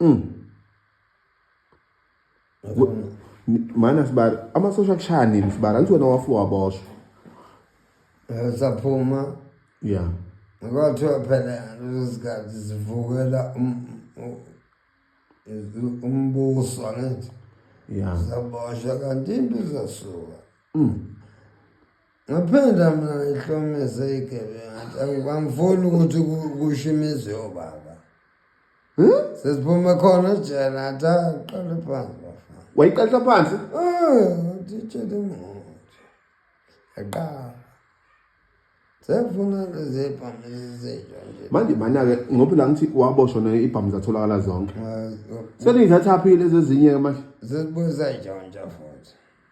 Mm. Mana sibari amasosha kushaya nini sibari angithi wena wafuwa waboshwa. Eh, saphuma. Yeah. Kwathiwa phela lezikhathi zivukela um, um, umbuso angithi. Yeah. Zaboshwa kanti impi zasuka. Mm. Ngaphendla mina ngihlomise igebenga angifuni ukuthi kusho imizi yobaba hmm? sesiphume khona ejele athi aqale phansi bafana wayiqaqa phansi nditshele ah, imoto yaqala sefuna lezibhamu ezizintsha nje manje mana-ke ngoba la ngithi waboshwa naye ibhamu zatholakala zonke seliyithathaphi lezi ezinye-ke manje zesibuye sayitshontsha futhi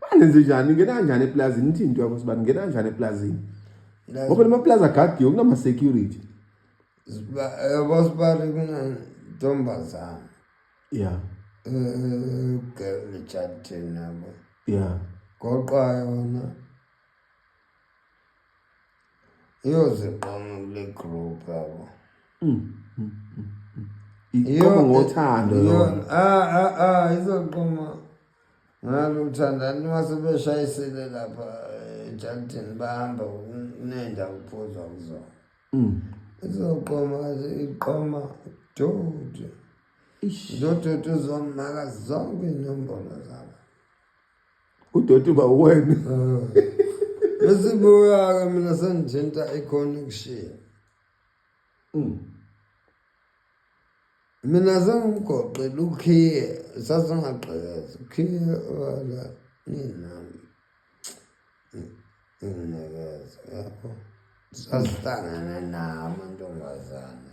Banenze njani? Ngena kanjani eplazini? Ithi into yakho sibani ngena kanjani eplazini? Ngoba lama plaza agadiwe kunama security. Yabo sibani mina ntombazana. Yeah. Eh, girl chatting nabo. Yeah. Goqa yona. iyoziqoma kule group yabo mm, mm, mm, iqoma ngothando yona ah ah ah izoqoma ngalo uthandani masebeshayisile lapha ejalidini eh, bahamba kunenda ukuphuzwa kuzona izoqoma iqoma dodi dodoti uzomaka zonke inombolo zabo udoti uba uwena esibuyaka mina sengithinta i-connection mm. mina sengigoqile ukhiye sasingagqekezi ukhiye wala ninami nginekeza yabo sasihlangane nawo amantombazane